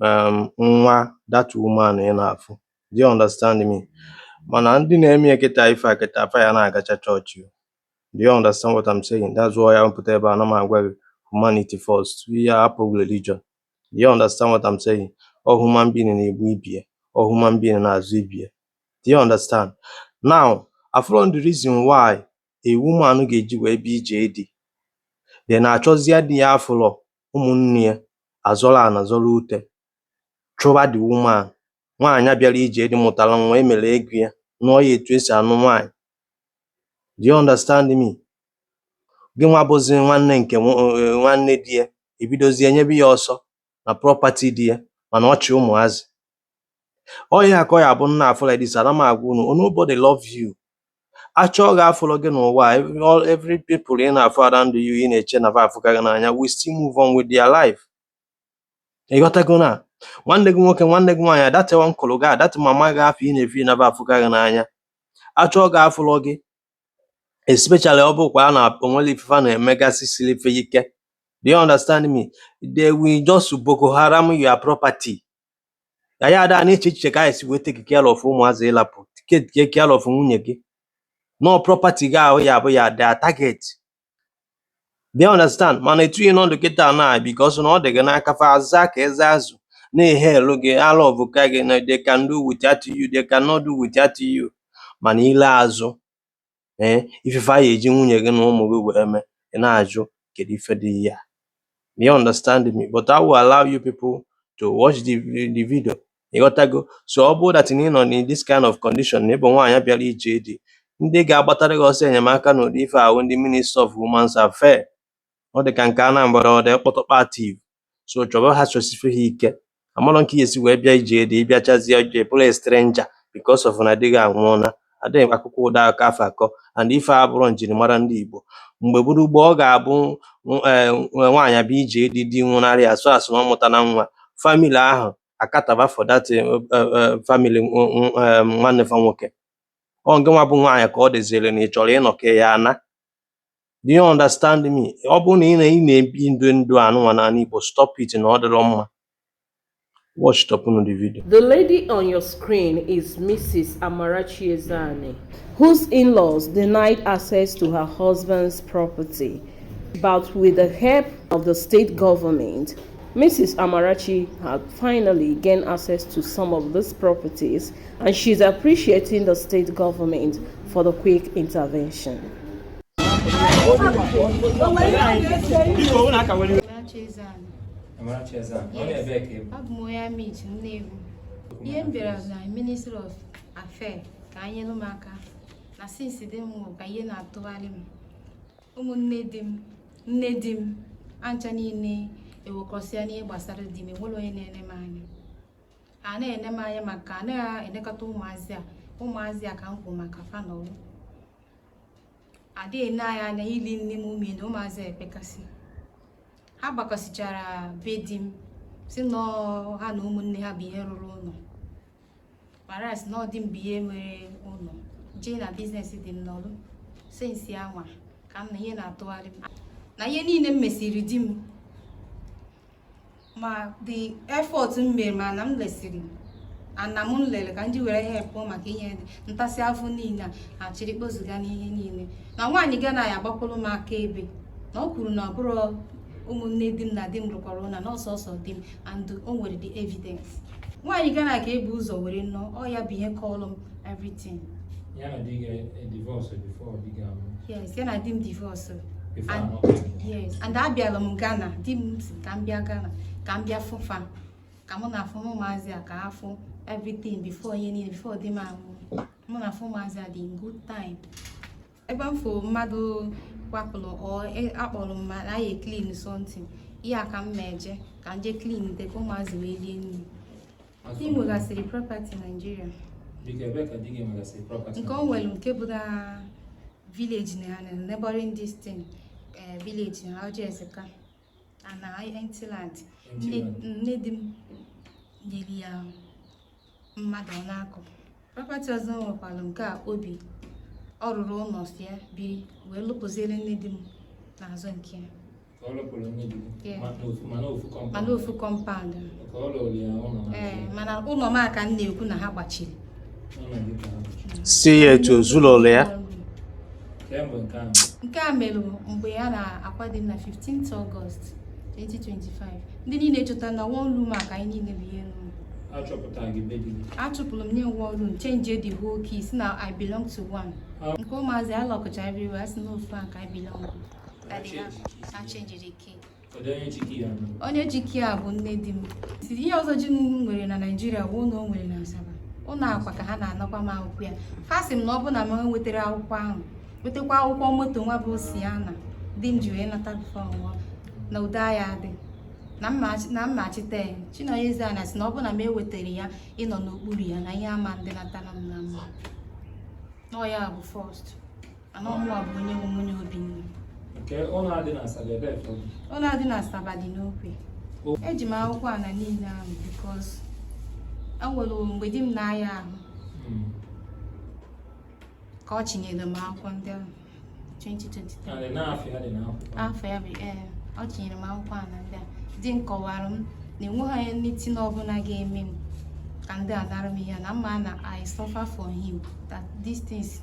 um nwa that woman ị na-afụ do you understand me mana ndị na-eme ya kịta ife a kịta afa ya na-agacha chọọchị o. do you understand what I'm saying that's why a pụta ebe a ana m agwa gị humanity first ị ya-ahapụ religion do you understand what I'm saying ọ human being na-egbu ibe ya ọ human being na-azọ ibe ya do you understand now afụrọ the reason why a woman ga-eji wee bịa ije di then achọzie di ya afụrọ ụmụnne ya azọrọ ana zọrọ ute chụba the woman. Nwaanyị a bịara ije di mụtara nwa, e mere ego ya, nụọ ya etu e si anụ nwaanyị. Do you understand me? Gị nwa bụzi nwanne nke eh, nwanne di ya, i bidozie nyebe ya ọsọ na property di ya mana ọ chị ụmụazị. Ọ ihe a ka ọ ya-abụ nna afọ like this, ana m agwa unu, oh, nobody love you. Achọọ gị afụlọ gị n'ụwa a, every all- every people ị na-afụ around you ị na-eche na fa afụka gị n'anya will still move on with their life. Ị ghọtago na nwanne gị nwoke nwanne gị nwaanyị a that uncle gị a that mama gị afụ ị na-feel na fa afụka gị n'anya achọọ gị afụlọ gị especially ọ bụkwaa na o nwere ife fa na-emegasị siri ife ike do you understand me they will just boko haram your property na ya ada na-eche echiche ka a ya-esi wee take care of ụmụazị ị lapụ take care of nwunye gị no property gị ahụ ya bụ ya their target do you understand mana etu ị nọ ndụ kịta na because na ọ dị gị n'aka fa aza ka eze azụ na-ehe elu gị ala ọ bụ ka gị na they can't do without you they cannot do without you mana i lee azụ ee ị fụ ife a ga-eji nwunye gị na ụmụ gị wee mee ị na-ajụ kedu ife dị ya you understand me but I will allow you people to watch the, the video ịghọtago so ọ bụrụ that na ị nọ na this kind of condition na ị bụ nwaanyị bịara ije di ndị ga-agbatara gị ọsọ enyemaka n'ụdị ife a bụ ndị ministry of women's affair ọ dị ka nke Anambra ọ dị kpọtọkpa active so chọba ha chọsie ha ike amarọ m ka ị ya-esi wee bịa ije di ị bịachazie ije bụrụ stranger because of na di gị anwụọla adịghị akọkwa ụdị akụkọ afụ akọ and ife a abụrọ njirimara ndị Igbo mgbe gboo gboo ọ ga-abụ eh, nwaanyị bịa ije di di nwụnarị as far as na ọ mụtana nwa family ahụ acaterba for that eh, eh, eh, family nw- nw- eh, nwanne fa nwoke ọ ngị nwa bụ nwaanyị ka ọ dịziri na ị chọrọ ịnọ ka ị ya-ana do you understand me ọ bụrụ na ị na- ị na-ebi ndụ ndụ anụnwa n'ala Igbo stop it na ọ dịrọ mma watch tọpụnụ the video The lady on your screen is Mrs. Amarachi Ezeani, whose in-laws denied access to her husband's property. But with the help of the state government, Mrs. Amarachi had finally gained access to some of these properties, and she's appreciating the state government for the quick intervention. abụ m onye Amichi Nnewi ihe m bịara na ministry of affairs ka e nyere m aka na since di m ka ihe na-atụgharị m ụmụnne di m nne di m ancha niile ewekọsịa n'ihe gbasara di m enwere onye na-ene m anya a na-ene m anya maka a na-enekọta ụmụazị a ụmụazị a ka m kwu maka fa nọlụ adịghị ene anyị anya ili nni m umie na ụmụazị ekpekasị ha gbakọsịchara be di m sị na ha na ụmụnne ha bụ ihe rụrụ ụlọ mara sị na ọ di m bụ ihe nwere ụlọ jee na business di m nwụrụ since anwa ka m na ihe na-atụgharị m na ihe niile m mesịrị di m ma the effort m mere ma ana m lesịrị ana m lere ka m ji were help maka inye ntasị afọ niile a a chịrị kpozuga n'ihe niile na nwaanyị Ghana ya agbakwuru m akaebe na o kwuru na ọ bụrọ ụmụnne di m na di m rụkọrọ ụnọ na ọ sọsọ di m and o nwere the evidence nwaanyị Ghana ka e bu ụzọ were nụọ ọ ya bụ ihe kọlụ m everything ya na di gị e divorce before di gị anwụọ yes ya na di m divorce before And- anwụọ yes and abịala m Ghana di m sị ka m bịa Ghana ka m bịa fụ fa ka mụ na afụ m ụmụazị a ka ha fụ everything before ihe niile before di m anwụọ mụ na afụ ụmụazị a dị in good time ebe m fụ mmadụ kwapụrụ ọ e- akpọrọ m mana anyị clean something ihe a ka m na-eje ka m jee cleante ka ụmụazị wee rie nri di m nwegasịrị property Nigeria Biko ebe ka di gị nwegasịrị property nke o nwere nke bụ na village na ya na neighboring dis thing eh, village na Ojiezeka ana empty land nne di m nyere ya mmadụ ọ na-akọ property ọzọ o nwekwara nke a obi ọ rụrụ ụlọ sị ya biri wee lụpụziere nne di m n'azụ nke ya Ọ lụpụrụ nne di gị Yeah. ma- n'ofu- ma n'ofu compound. mana ofu compound mana ụlọ m a ka m na-ekwu na ha gbachiri sị ya etu o zulolu ya nke a mere mgbe a na-akwa di m na 15th August 2025 ndị niile chọta na one room a ka anyị niile bụ ihe a chụpụrụ m nye one room change the whole key sị na I belong to one ah. nke ụmụazị a lockọcha everywhere sị na ofu a ka I belong e change the key onye ji key a bụ nne di m ihe ọzọ di m nwere na Nigeria bụ ụlọ o nwere na Asaba ụlọ anwa ka ha na-anakwa m akwụkwọ ya ha sị m na ọ bụ na m ewetara akwụkwọ ahụ wetakwa akwụkwọ moto nwa bụ Sienna di m ji wee nata ọ nwụọ na udo aya adị na mmachite ya Chinonye Eze ana sị na ọ bụ na m ewetara ya ịnọ n'okpuru ya na ihe ama adịnata m na mma na ọ ya bụ first Nke ụlọ a dị na Asaba ebee ka ọ dị? Ụlọ a dị na Asaba dị n'Okwe. Eji m akwụkwọ ana niile ahụ because enwere mgbe di m na-aya ahụ hmm. ka ọ chinyere m akwụkwọ ndị ahụ 2023. Afọ ya bụ ee ọ chinyere m akwụkwọ ana ndị a di m kọwara m na enweghị anything ọbụla ga-eme m ka ndị a nara m ya na mma na I suffer for him that these things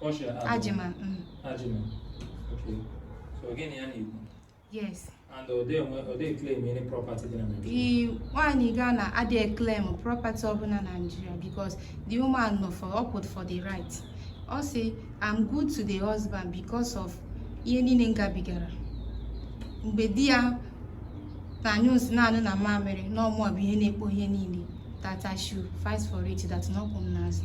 Portia onye? Agyeman mm, Agyeman. Okay. So Ghanaian na-ekwu? yes And ọ dịghị enwe- ọ dịghị claim any property dị na Naịjirịa. i nwaanyị Ghana adịghị claim property ọbụla na Nigeria because the woman nọ for ọ kwụ for the right ọ sị I'm good to the husband because of ihe niile m gabigara mgbe di ya na-anyụ nsị na-anyụ mamịrị na ọ mụwa bụ onye na-ekpo ihe niile that I should fight for it that na ọ kwụ m n'azụ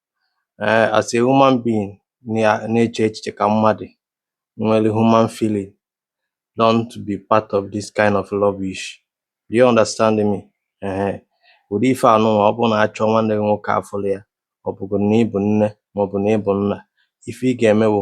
um as a human being na-eche echiche ka mmadụ nwere human feeling don't be part of this kind of rubbish do you understand me um ụdị ife a nụnwa ọ bụrụ na a chọọ nwanne gị nwoke afụrọ ya ọ bụgodi na ị bụ nne maọbụ na ị bụ nna ife ị ga-eme bụ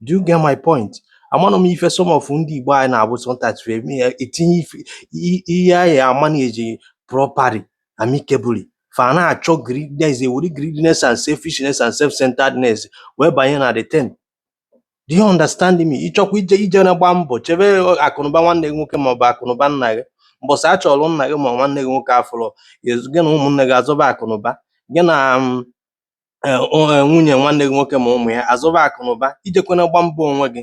do you get my point amanụ m ife some of ndị Igbo anyị na-abụ sometimes we eme ya etinye ife- i- ihe anyị a-manage properly amicably fa na-achọ greediness ewere greediness and selfishness and self-centeredness wee banye na the thing do you understand me ị chọkwa ije ijena gba mbọ chebe ọ- akụnụba nwanne gị nwoke maọbụ akụnụba nna gị mbọsị a chọrọ nna gị ma nwanne gị nwoke afụrọ gị na ụmụnne gị azọba akụnụba gị na um, nwunyè nwanne gị nwoke ma ụmụ̀ ya àzọba àkụ̀nụ̀ba ijekwana gba mbọ onwe gị